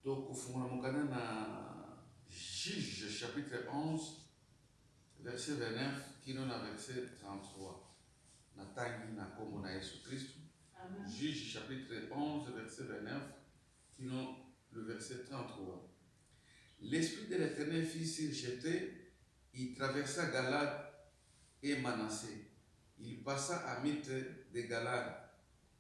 Tokofungola mokanda na Juge chapitre 11 verset 29 kino na verset 33. Natangi na Kombo na Yesu Kristu. Juge chapitre 11 verset 29 kino le verset 33. L'esprit de l'Eternel fit sur Jephte, il traversa Galaad et Manasse, il passa à Mithre de Galaad.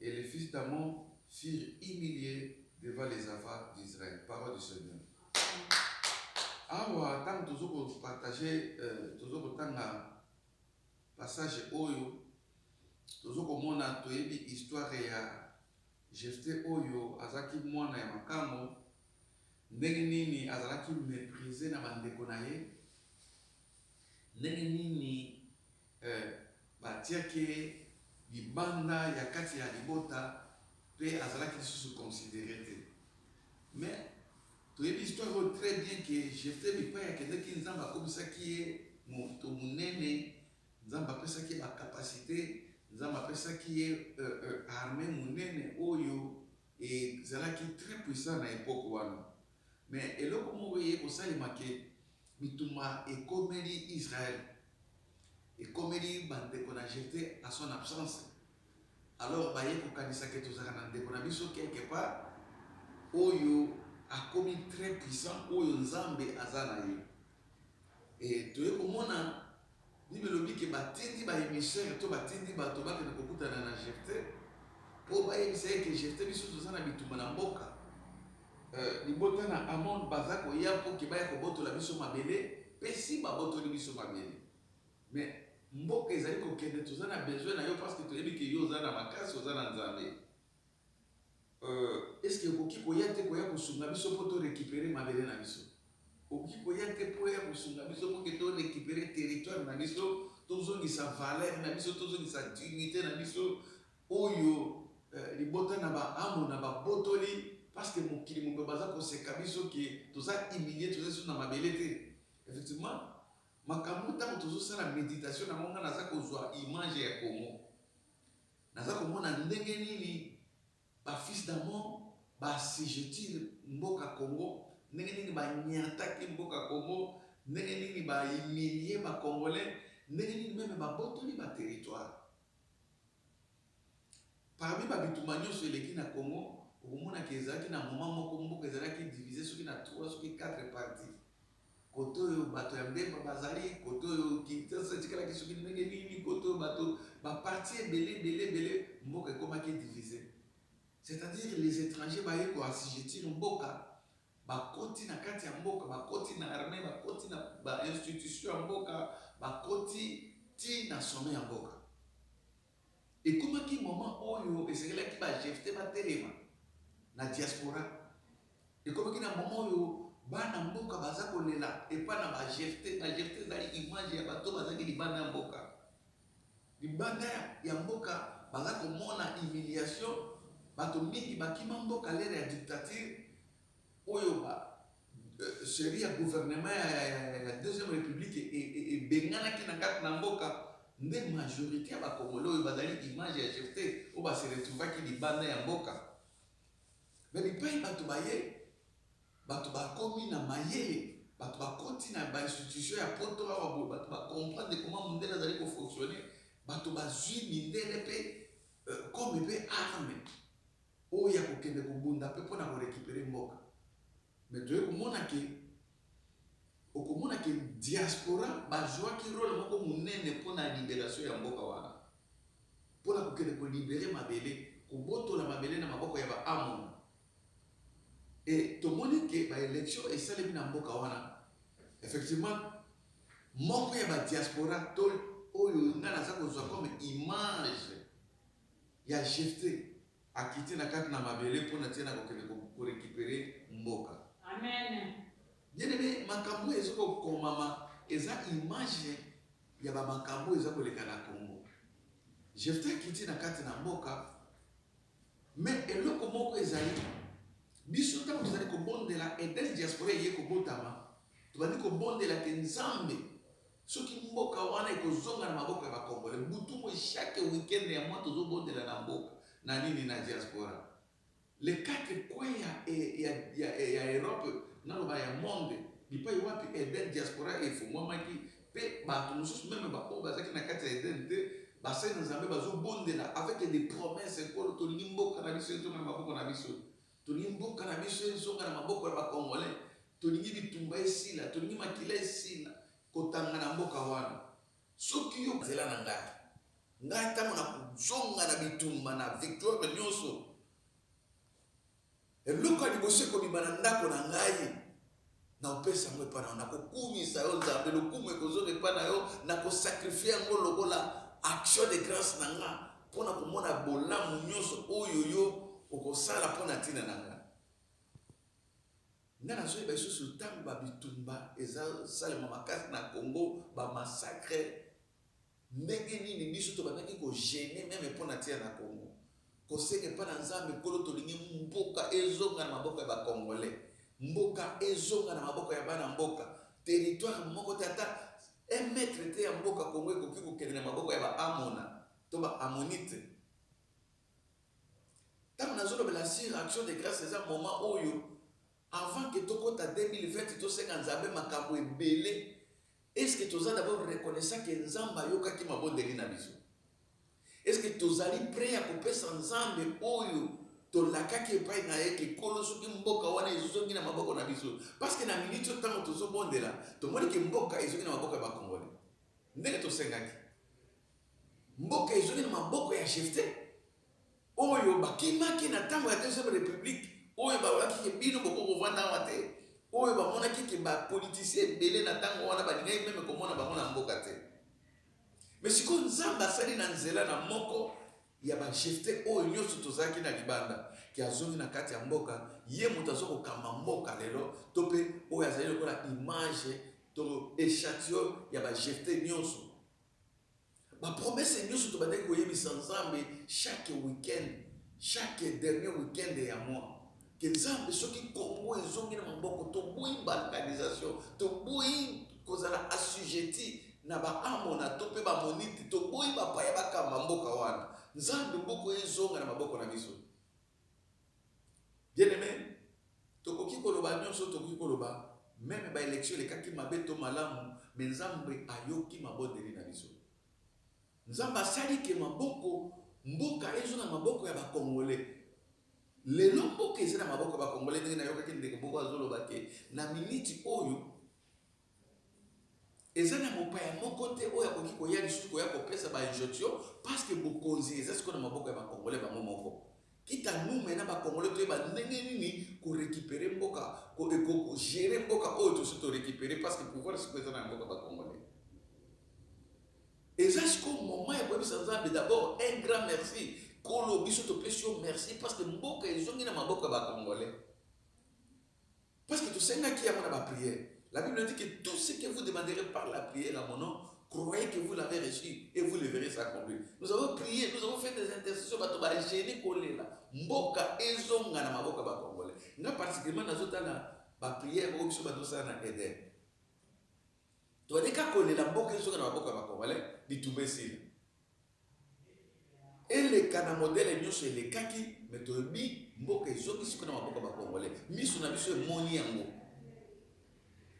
Et les fils d'Ammon furent humilie devant les enfants d'Israël. Parole du Seigneur. Awa tango tozo ko partager euh, tozo kotanga passage oyo tozo komona toyebi histoire ya Jephthé oyo azalaki mwana ya makango ndenge nini azalaki meprise na bandeko na ye Ndenge nini eh batiaki ye libanda ya kati ya libota pe azalaki lisusu considere te mais toyebi histoire oyo tres bien que Jephthe bipayi akendeki Nzambe akomisaki ye moto munene Nzambe apesaki ye ba capacite Nzambe apesaki ye eh arme munene oyo ezalaki tres puissant na epoque wana mais eloko moko eye kosalema que Bitumba ekomeli Israël, ekomeli ba ndeko na Jephthe na son absence, alors baye kokanisa que tozalaka na ndeko na biso quelque part oyo akomi très puissant, oyo Nzambe aza na ye et toye komona Bible elobi ke batindi ba emissaires to batindi bato bakende kokutana na Jephte po bayebisa ye ke Jephte biso toza na bitumba na mboka, euh libota na Amon baza koya po ke baya kobotola biso mabele pe si babotoli biso mabele mais mboka ezali kokende toza na besoin na yo parce que toyebi ke yo oza na makasi oza na Nzambe Euh est ce que okoki koya te koya kosunga biso po to recuperer mabele na biso? Okoki koya te po oya kosunga biso po ke to recuperer territoire na biso, tozongisa valeur na biso, tozongisa dignite na biso oyo eh, libota na ba Amona babotoli parce que mokili mobimba baza koseka biso ke toza humilier, toza lisusu na mabele te. Effectivement, makambo tango tozosala meditation na ngo, nga naza kozwa image ya Congo. Naza komona ndenge nini ba fils d'amon ba assujettir mboka Congo, ndenge nini ba niataki mboka Congo, ndenge nini ba humilier ba congolais, ndenge nini meme ba botoli ba territoires. Parmi ba bitumba nionso eleki na Congo, okomona que ezalaki na moment moko mboka ezalaki diviser soki na trois soki quatre parties. kote oyo bato ya Mbemba bazali, kote oyo Kinshasa etikalaki soki ndenge nini, kote oyo bato, ba partis ebele, ebele, ebele, mboka ekomaki diviser. C'est à dire les etrangers baye ko assujettir mboka, bakoti na kati ya mboka, bakoti na armee, bakoti na ba institutions ya mboka, bakoti tii na sommet ya mboka. Ekomaki moment oyo esengelaki ba Jephte batelema na diaspora, ekomaki na moment oyo bana mboka baza kolela epa na ba Jephte, ba Jephte ezali image ya bato oyo bazalaki libanda ya mboka, libanda ya mboka baza komona humiliation, bato mingi bakima mboka lors ya dictature oyo ba Cheri ya gouvernement ya deuxième republique ebenganaki na kati na mboka nde majorite ya ba congolais oyo bazali image ya Jephthe oyo ba se retrouvaki libanda ya mboka mais bipayi batu baye batu bakomi na mayele batu bakoti na ba institutions ya poto awa boye batu ba comprendre comment mundele azali ko fonctionner batu bazui mindele pe comme pe arme oyo ya kokende kobunda pe pona ko recuperer mboka mais toye komona ke okomona ke diaspora bazuaki role moko munene pona liberation ya mboka wana pona kokende ko liberer mabele kobotola mabele na maboko ya ba Amon et tomoni ke ba election esalemi na mboka wana effectivement moko ya ba diaspora to oyo nga naza kozua comme image. Ya Jephte akiti na kati na mabele mpo na tina kokende ko recuperer mboka. Amen. Bien aime makambo oyo ezo kokomama eza image ya ba makambo oyo eza koleka na Congo. Jephte akiti na kati na mboka mais eloko moko ezali biso ntango tozali kobondela Eden Diaspora eye kobotama tobandi kobondela ke Nzambe Soki mboka wana ekozonga na maboko ya ba congolais butu moyi chaque week-end ya mois tozo bondela na mboka na nini na diaspora les quatre coins ya ya ya Europe naloba ya monde bipayi wapi Eden diaspora efunguamaki pe batu mosusu meme ba oyo bazalaki na kati ya Eden te basali na Nzambe bazo bondela avec des promesses nkolo tolingi mboka na biso ezonga na maboko na biso Tolingi mboka na biso ezonga na maboko ya ba congolais, tolingi bitumba esila, tolingi makila esila kotanga na mboka wana. Soki yo. Nzela na ngai. Ngai tango na kozonga na bitumba na victoire nionso, eloko ya liboso ekobima na ndako na ngai. Nakopesa yango epai na yo, nakokumisa yo, Nzambe, lokumu ekozonga epai na yo, nakosakrifie yango lokola action de grace na ngai, mpo na komona bolamu nyonso oyo yo okosala mpo na ntina na ngai. Ngai nazoyeba lisusu ntango babitumba ezasalema makasi na Congo, bamasakre, Ndenge nini biso tobandaki ko jeune meme po na tir na Congo. Koseka epai na Nzambe Nkolo tolingi mboka ezonga na maboko ya ba Congolais. Mboka ezonga na maboko ya bana mboka. Territoire moko te ata un mètre te ya mboka Congo ekoki kokende na maboko ya ba Amona to ba Amonite. Tango nazolobela sur action de grace eza moment oyo Avant que tokota 2020 tosenga Nzambe makambu ebele, est ce que toza d'abord reconnaissant que Nzambe ayokaki mabondeli na biso? Est ce que tozali pret ya kopesa Nzambe oyo tolakaki epai na ye que kolo soki mboka wana ezongi na maboko na biso? Parce que na minute oyo tango tozobondela, tomoni que mboka ezongi na maboko ya ba congolais ndenge tosengaki. Mboka ezongi na maboko ya Jephte oyo bakimaki na tango ya deuxième republique, oyo balobaki ke bino bokoki kovanda awa te, oyo bamonaki ke ba politiciens ebele na tango wana balingaki meme komona bango na mboka te. Mais sikoyo Nzambe asali na nzela na moko ya ba Jephte oyo nionso tozalaki na libanda ke azongi na kati ya mboka, ye moto azo kokamba mboka lelo to pe oyo azali lokola image to echantillon ya ba Jephte nionso. Ba promesses nioso tobandaki koyebisa Nzambe chaque week-end, chaque dernier week-end ya mois que Nzambe soki Congo ezongi na maboko, toboyi balkanisation, toboyi kozala assujettis na ba Amona to pe ba Amonite, toboyi bapaya bakamba mboka wana. Nzambe mboka oyo ezonga na maboko na biso. Bien aime tokoki koloba nionso tokoki koloba meme ba election elekaki mabe to malamu mais nzambe ayoki mabondeli na biso nzambe asali ke maboko mboka ezo na maboko ya ba congolais lelo mboka eza na maboko ya ba congolais ndenge nayokaki ndeko moko azoloba ke na miniti oyo Eza na mopaya moko te oyo akoki koya lisusu koya kopesa ba injonctions parce que bokonzi eza sikoyo na maboko ya ba congolais bango moko. Quitte à nous maintenant ba congolais toyeba ndenge nini ko recuperer mboka, ko gerer mboka oyo tosi to recuperer parce que pouvoir sikoyo eza na maboko ya ba congolais. Eza sikoyo moment ya koyebisa Nzambe d'abord un grand merci, Nkolo biso topesi yo merci parce que mboka ezongi na maboko ya ba congolais. Parce que tosengaki yango na ba prière. La bible dit que tout ce que vous demanderez par la prière à mon nom, croyez que vous l'avez reçu et vous le verrez s'accomplir. Nous avons prié, nous avons fait des intercessions, bato ba gêner kolela, mboka ezonga na maboka ba congolais. Nga particulièrement nazotala ba prière oyo biso bato sala na Eden. Toaleka kolela mboka ezonga na maboka ba congolais, bitumba esila. eleka na modele nionso elekaki mais toyebi mboka ezongi siko na maboko ba congolais misu na biso emoni yango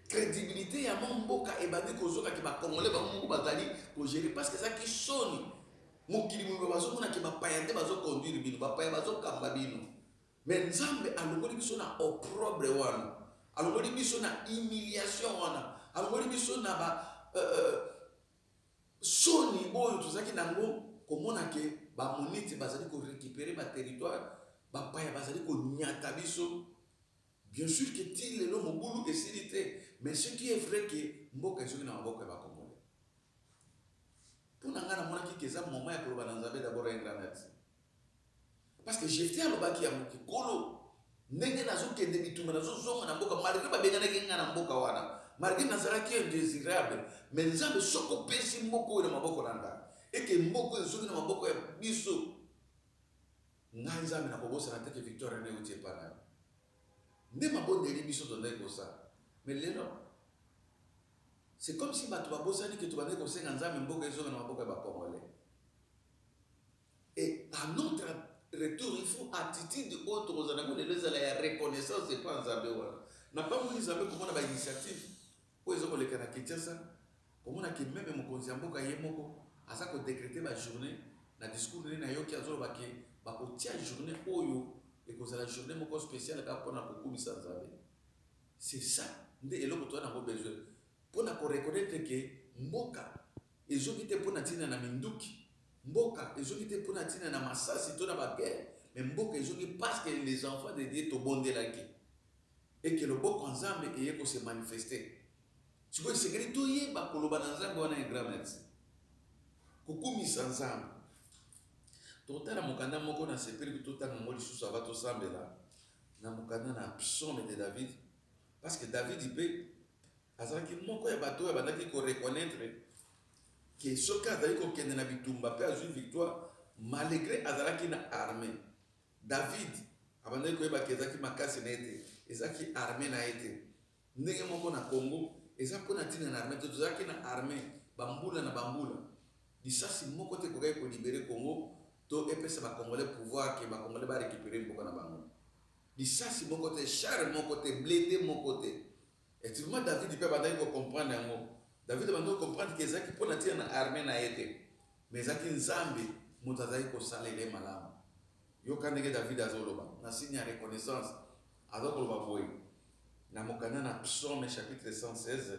credibilite ya mwa mboka ebandi kozoka ke ba congolais bango moko bazali kogere parce que ezalaki soni mokili mobimba bazomona ke bapaya nde bazoconduire bino bapaya bazokamba bino mais nzambe alongoli biso na oprobre wana alongoli biso na humiliation wana alongoli biso na ba euh, euh, Soni oyo tozalaki na yango komona ke Baamonite bazali ko recuperer ba territoires, bapaya bazali konyata biso. Bien sur que tii lelo mobulu esili te, mais ce qui est vrai que mboka ezongi na maboko ya ba Congolais. Mpo na ngai namonaki ke eza moment ya koloba na Nzambe d'abord un grand merci. Parce que Jephte alobaki yango ke nkolo ndenge nazo kende bitumba nazo zonga na mboka malgre ba benganaki nga na mboka wana malgre nazalaki indesirable mais nzambe soki opesi mboka oyo na maboko na nga eke mboka oyo ezongi na maboko ya biso ngai nzambe nakobosana te ke victoire ene euti epa na yo nde mabondeli biso tozalaki kosala mais lelo c'est comme si bato babosani ke tobandaki kosenga nzambe mboka ezonga na maboko ya bacongolais Et à notre retour il faut attitude oyo tokozala nango lelo ezala ya reconnaissance epa ya Nzambe wana na pamboli Nzambe komona ba initiative oyo ezo koleka na Kinshasa komona ke meme mokonzi ya mboka ye moko aza ko decreter ba journee na discours nene nayoki azoloba ke bakotia journee oyo ekozala journee moko speciale kaka pona kokumisa Nzambe c'est ça nde eloko toza nango besoin Pona ko reconnaitre que mboka ezoki te pona tina na minduki, mboka ezoki te pona tina na masasi to na ba guerre, mais mboka ezoki parce que les enfants de Dieu tobondelaki et que loboko ya Nzambe eye ko se manifester. Sikoyo esengeli toyeba koloba na Nzambe wana un grand merci. Kokumisa Nzambe. Tokotala mokanda moko nasepeli totanga yango lisusu avant tosambela, na mokanda na Psaumes de David Parce que Davidi mpe azalaki moko ya bato oyo abandaki ko reconnaitre que soki azali kokende na bitumba mpe azwi victoire, malgre azalaki na armee, David abandaki koyeba que ezalaki makasi na ye te, ezalaki armee na ye te. Ndenge moko na Congo, eza mpo na ntina na armee te, tozalaki na armee bambula na bambula, lisasi moko te ekokaki ko liberer Congo to epesa ba Congolais pouvoir que ba Congolais ba recuperer mboka na bango. Lisasi moko te, char moko te, blinde moko te. Effectivement, David pe abandaki ko comprendre yango. David abandi ko comprendre que ezalaki pona tina na armee na ye te, mais ezalaki Nzambe mutu azalaki ko salela ye malamu. Yoka ndenge David azo loba, na signe ya reconnaissance, aza ko loba boye, na mokanda na Psaumes chapitre 116,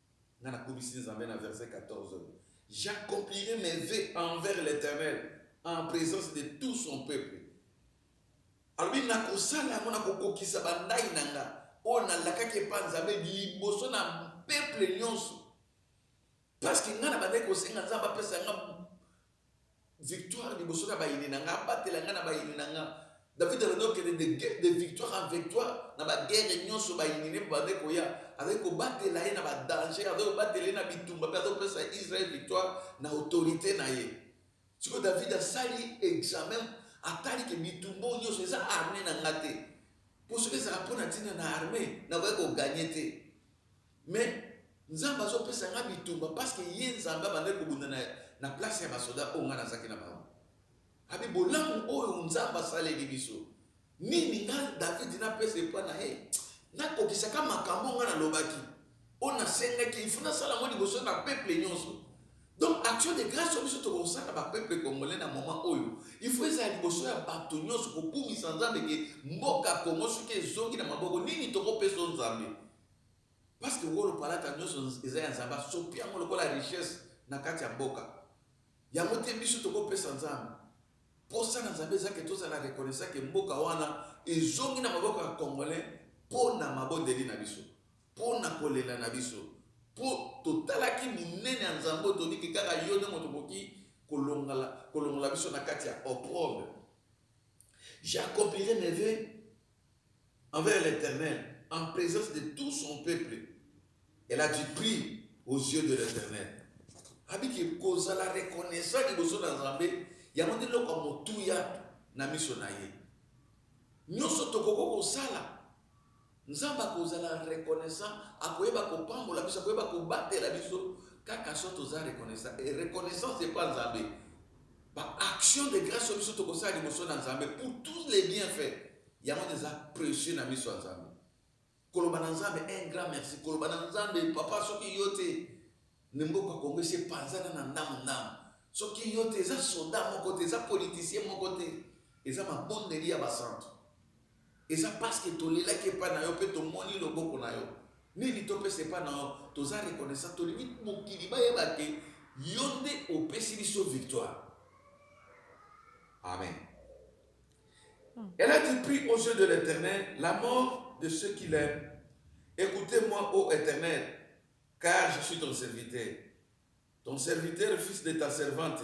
Nga na kumisi Nzambe na verset 14, J'accomplirai mes vœux envers l'Eternel en presence de tout son peuple. Alobi nakosala yango, nakokokisa ba ndayi na nga oyo nalakaki epa Nzambe liboso na peuple nionso. Parce que nga na bandaki kosenga Nzambe apesa nga Victoire liboso na bayini na nga, abatela nga na bayini na nga. David alobi okende de, de victoire en victoire na baguerre nyonso bayini ne bande koya. Azali kobatela ye na badanger, azali kobatela ye na bitumba mpe azali kopesa Israel victoire na autorité na ye. Sikoyo David asali examen, atali ke bitumba oyo nyonso eza armee na nga te. Mpo soki ezalaka mpo na ntina na armee, nakoki koganye te. Mais nzambe azo pesa nga bitumba parceque ye nzambe abandaki kobunda na na place ya ba soda oyo nga nazaki na bango abi bolamu oyo nzambe asaleli biso nini nga david napesa epa na ye nakokisaka makambo nga nalobaki oyo nasengaki ifu nasala yango liboso na peuple nyonso donc action de grâce oyo biso tokosala ba peuple congolais na moment oyo ifu ezala liboso ya bato nyonso kobungisa nzambe ke mboka kongo soki ezongi na maboko nini tokopesa nzambe Parce que wolo palata nioso eza ya nzambe asopi yango lokola richesse na kati ya mboka yango te biso toko pesa nzambe posa na nzambe eza ke tozala reconnaissant ke mboka wana ezongi na maboko ya congolais po na mabondeli na biso po na kolela na biso po totalaki monene ya nzambe oyo toyebi ke kaka yo nde moto okoki kolongala kolongola biso na kati ya opprobre j'accomplirai mes voeux envers l'Eternel en presence de tout son peuple elle a du prix aux yeux de l'Eternel abi ke kozala reconnaissant liboso na Nzambe yango nde eloko ya motuya na miso na ye nyonso tokoki kosala Nzambe akozala reconnaissant akoyeba kopambola biso akoyeba kobatela biso kaka so toza reconnaissant et reconnaissance epa Nzambe Ba actions de grace oyo biso toko sala liboso na Nzambe pour tous les bienfaits, yango nde eza precieux na miso ya Nzambe. Koloba na Nzambe un grand merci, koloba na Nzambe papa soki yo te ne mboka Congo esi epanzana na ndamu ndamu, soki yo te eza soda moko te, eza politicien moko te, eza mabondeli ya ba santu. Eza parceque tolelaki epai na yo pe tomoni loboko na yo. Nini topesa epai na yo? Toza reconnaissant. Tolingi mokili bayeba que yo nde opesi biso victoire. Amen. Elle a dit, Prie aux yeux de l'Eternel la mort de ceux qui l'aiment. Ecoutez moi, ô Eternel, car je suis ton serviteur, ton serviteur, fils de ta servante.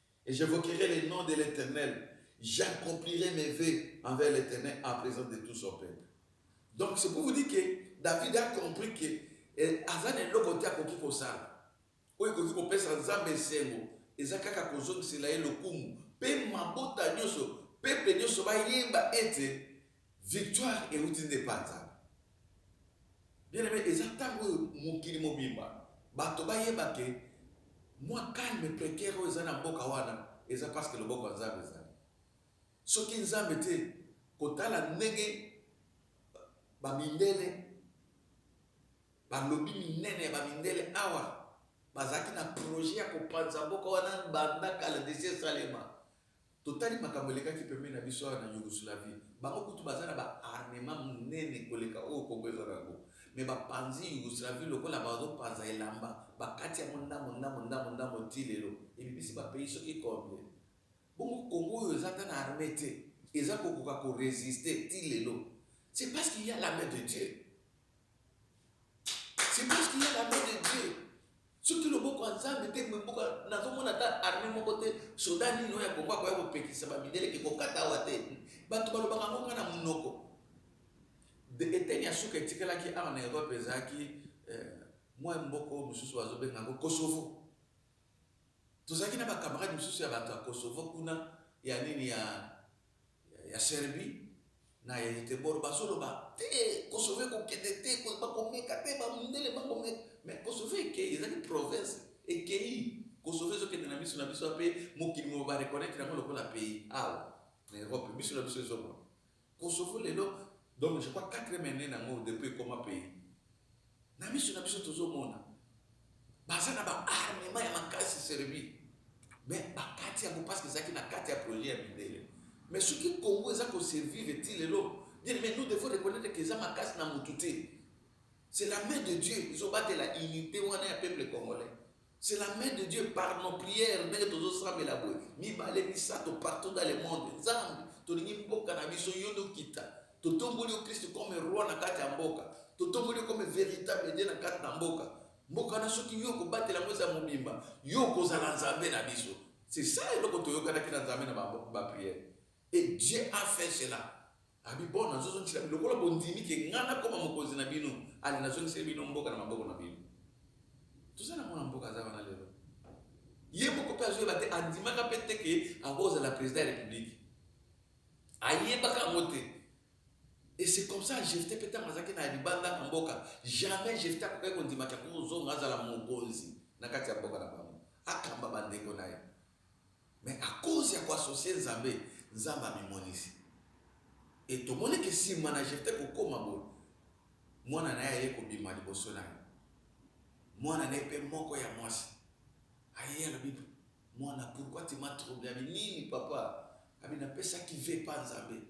Et j'evoquerai le nom de l'Eternel, j'accomplirai mes vœux envers l'Eternel en presence de tout son peuple. Donc c'est pour vous dire que David a compris que eh, aza na eloko te akoki kosala oyo ekoki kopesa Nzambe esengo eza kaka kozongisela ye lokumu mpe mabota nyonso peple nyonso bayeba ete Victoire ewuti nde epa Nzambe. Bien aime eza tango oyo mokili mobimba bato bayeba ke mua calme precaire oyo eza na mboka wana eza parce que loboko ya Nzambe ezali. Soki Nzambe te kotala ndenge ba mindele ba lobby minene ya ba mindele awa bazalaki na projet ya kopanza mboka wana banda kala desi esalema Totali makambo elekaki pembeni na biso awa na Yougoslavie. Bango kutu baza na ba armements munene koleka oyo Congo eza na yango. Mais ba panzi Yougoslavie lokola bazo panza elamba. Ba kati yango ndambo, ndambo, ndambo, ndambo tii lelo. Ebimisi ba pays soki combien. Bongo Congo oyo eza ata na armee te, eza kokoka ko resister tii lelo. C'est parce qu'il ya la main de Dieu. C'est parce qu'il y a la main de Dieu. soki loboko ya nzambe te mboka nazomona ata arme moko te soda nini oyo ya kongo akoya kopekisa bamindele ke kokata awa te bato balobaka yango kaka na monoko eteni ya suka etikalaki awa na europe ezalaki eh, mwa mboko mosusu bazobenga yango kosovo tozalaki na bakamarade mosusu ya bato ya kosovo kuna ya nini ya ya Serbie na ya Yetebor bazo loba te ko sauver ko kende te ba ko meka te ba mundele ba ko meka mais ko sauver ekeyi ezali province ekeyi ko sauver ezo kende na misu na biso pe mokili mobimba ba reconnaitre yango lokola pays awa na Europe misu na biso ezo mona ko sauver lelo donc je crois quatrième annee na ngo depuis ekoma pays Na miso na biso tozo mona baza na ba armement ya makasi Serbie mais ba kati yango parce que ezalaki na kati ya projet ya mindele mais soki Congo eza ko survivre ti lelo bien aimé nous devons reconnaître que eza makasi na mutu te c'est la main de Dieu ezo batela unite wana ya peuple congolais C'est la main de Dieu par nos prières ndenge tozosambela boye mibale misato partout dans le monde nzambe tolingi mboka na biso yo nde okita totomboli yo kristu comme roi na kati ya mboka totomboli yo comme véritable dieu na kati na mboka mboka na soki yo okobatela yango eza mobimba yo okozala nzambe na biso c'est ça eloko toyokanaki na nzambe na baprière Et Dieu a fait cela. Abi bon nazozongisela bino lokola bondimi ke ngai nakoma mokonzi na bino, ale nazongiseli bino mboka na maboko na bino. Toza na mwana mboka aza wana lelo, ye moko pe azoyeba te, andimaka pe te ke akozala president ya republique, ayebaka yango te. Et c'est comme ça Jephte pe tango azalaki na libanda na mboka, jamais Jephte akokaki kondima ke akozonga azala mokonzi na kati ya mboka na bango, akamba bandeko na ye. Mais à cause ya ko associer Nzambe, Nzambe amimonisi. Et tomoni que sima na Jephte kokoma boye, mwana na ye aye kobima liboso na ye. Mwana na ye pe moko ya mwasi aye alobi, Mwana, pourquoi tu m'as trouble? Abi, Nini papa? Abi, Napesaki vœux epa Nzambe.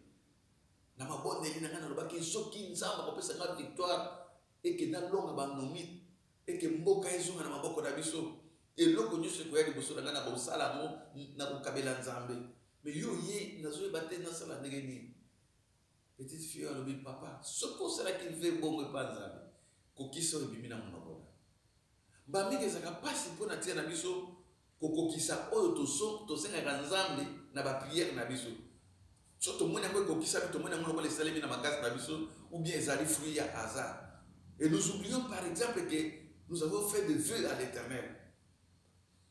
Na mabondeli na ngai nalobaki soki Nzambe akopesa ngai victoire, et que na longa ba nomi et que mboka ezonga na maboko na biso eloko nioso ekoya liboso na ngai nako sala yango nako kabela nzambe mais yo oye nazo yeba te na sala ndenge nini petite fille alobi papa soki osalaki vrai bongo epa nzambe kokisa oyo ebimi na monoko na Mbala mingi ezalaka mpasi mpo na ntina na biso kokokisa oyo tosengaka Nzambe na bapriere na biso. Soki tomoni yango ekokisami, tomoni yango lokola esalemi na makasi na biso ou bien ezali fruit ya hasard. Et nous oublions par exemple que nous avons fait des vœux à l'Eternel.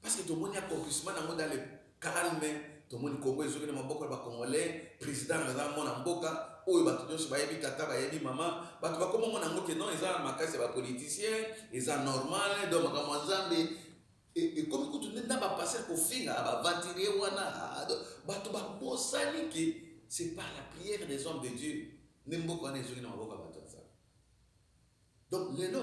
Parce que tomoni accomplissement nango dans le calme, tomoni Congo ezoki na maboko ya ba congolais, president aza mwana mboka oyo batu nionso bayebi tata bayebi maman, batu bakoma mona yango que non eza makasi ya ba politiciens, eza normal donc makambo ya nzambe ekomi kutu nde na ba pasteur kofinga ba aventuriers wana, batu babosani que c'est par la prière des hommes de Dieu nde mboka wana ezoki na maboko ya batu ya nzambe donc lelo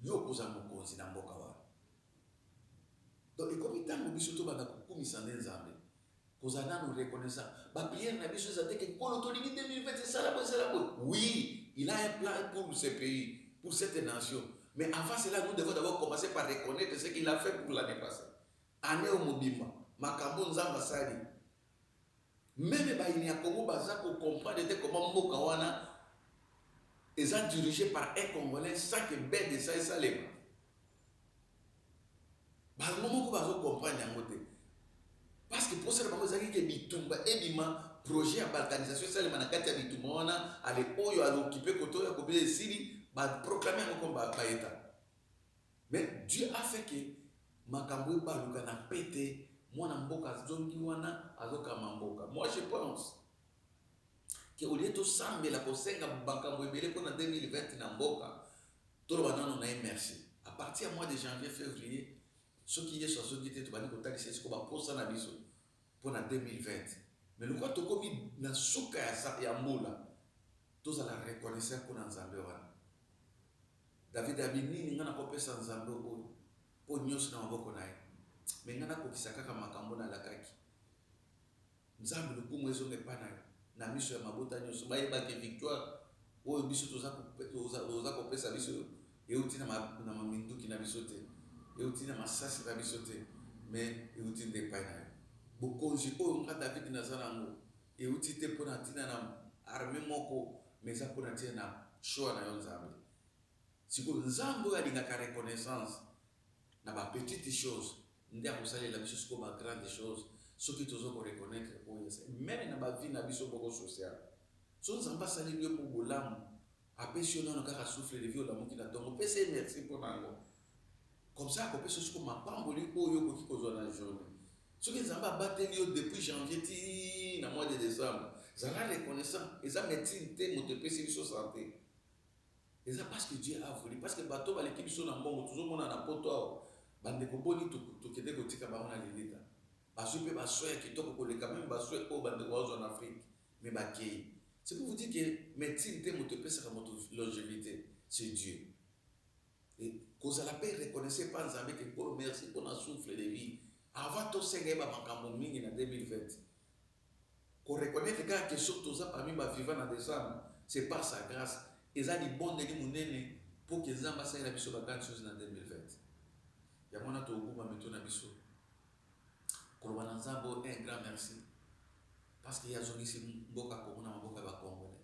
Yo okozala mokonzi na mboka wana. Donc ekomi tango biso tobanda kokumisa nde Nzambe, kozala nanu reconnaissant. Ba prières na biso ezala te que Nkolo tolingi 2020 esala boye esala boye. Oui, il a un plan pour ce pays, pour cette nation. Mais avant cela nous devons d'abord commencer par reconnaitre ce qu'il a fait pour l'annee passee. Annee oyo mobimba makambo oyo Nzambe asali Meme bayini ya Congo baza ko comprendre te comment mboka wana eza diriger par un congolais sans que bdsa esalema. Bango moko bazo comprendre yango te. Parce que posa na bango ezalaki ke bitumba ebima, projet ya balkanisation esalema na kati ya bitumba wana, ale oyo a occuper kote oyo akobila esili, ba proclamer yango comme ba Etats. Mais Dieu a fait que makambo ebaluka na pete, mwana mboka azongi wana azokamba mboka. Moi je pense que au lieu tosambela kosenga makambo ebele pona 2020 na mboka, toloba nanu na ye merci. A partir ya mois de janvier, fevrier, soki Yesu azongi te tobandi kotalisa ye sikoyo baposa na biso pona 2020. Mais lokola tokomi na suka ya mbula, tozala reconnaissant pona Nzambe wana. David alobi nini nga nako pesa nzambe oyo po nioso na maboko naye mais nga na kokisa kaka makambo na lakaki nzambe lokumu ezonga epa nayo na miso ya mabota nioso bayeba ke victoire oyo biso toza kopesa biso euti na minduki na biso te euti na masasi na biso te mais euti nde epai nayo bokonzi oyo nga David naza nango Ewuti te pona tina na armee moko mais eza pona tina na choix na yo nzambe sikoyo nzambe oyo alingaka reconnaissance na ba petite chose nde akosalela biso sikoyo ba grande chose soki tozo ko reconnaitre oyo meme na ba vie na biso moko social so nzambe asaleli yo po bolamu Apesi yo nanu kaka souffle de vie olamuki na tongo pesa ye merci mpo na yango comme ça akopesa yo siko mapamboli oyo okoki kozwa na journee soki nzambe abateli yo depuis janvier ti na mois de décembre zala reconnaissant eza médecine te moto epesi biso sante eza parce que dieu a voulu parce que bato baleki biso na mbongo tozomona na poto awa bandeko boni tokende kotika bango na lilita bazwi mpe baswe ya kitoko koleka meme baswe oyo bandeko bazwa na afrique mais bakeyi c'est pour vous dire que medecine te moto epesaka moto longevite c'est Dieu et kozala pe reconnaissant epa Nzambe ke Nkolo merci pona souffle de vie avant tosenga ye ba makambo mingi na 2020 ko reconnaitre kaka ke soki toza parmi ba vivants na decembre c'est par sa grace eza libondeli monene po ke Nzambe asalela biso ba grandes choses na 2020 yango wana tokogumba mito na biso koloba na Nzambe oyo un grand merci. Parce que ye azongisi mboka Congo na maboko ya ba congolais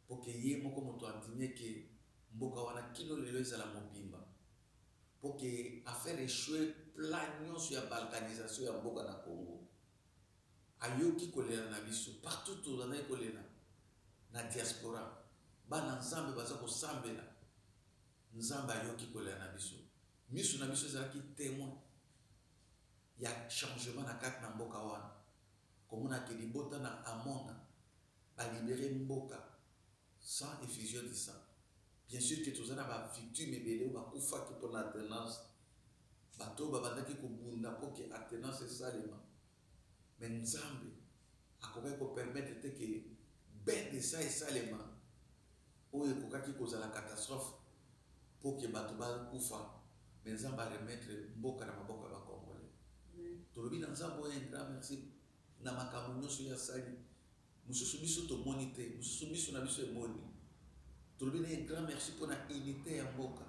pour que ye moko mutu andime que mboka wana kino lelo ezala mobimba pour que a faire echoue plan nionso ya balkanisation ya mboka na Congo. Ayoki kolela na biso partout tozalaki kolela na diaspora bana nzambe baza kosambela nzambe ayoki kolela na biso misu na biso ezalaki temoin ya changement na kati na mboka wana, komona que libota na Amona ba liberer mboka sans effusion du sang. Bien sur que toza na ba victimes ebele oyo bakufaki pona alternance, bato oyo babandaki kobunda mpo que alternance esalema mais Nzambe, Akokaki ko permettre te que bain de sang esalema oyo ekokaki kozala catastrophe mpo que bato bakufa mais Nzambe a remettre mboka na maboko ya ba congolais. Tolobi na Nzambe oyo un grand merci na makambo nionso ye asali. Mosusu biso tomoni te, mosusu miso na biso emoni. Tolobi na ye grand merci pona unite ya mboka.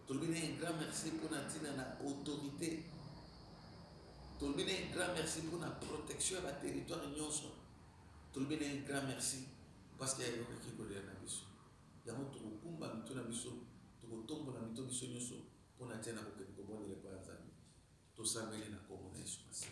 Tolobi na ye grand merci pona tina na autorite. Tolobi na ye grand merci pona protection ya ba territoire nionso. Tolobi na ye grand merci parce que ayokaki kolela na biso. Yango tokokumba mitu na biso, tokotombola mito biso nionso pona tina na kokende kobondela epai ya Nzambe. Tosambeli na kombo na Yesu Masiya.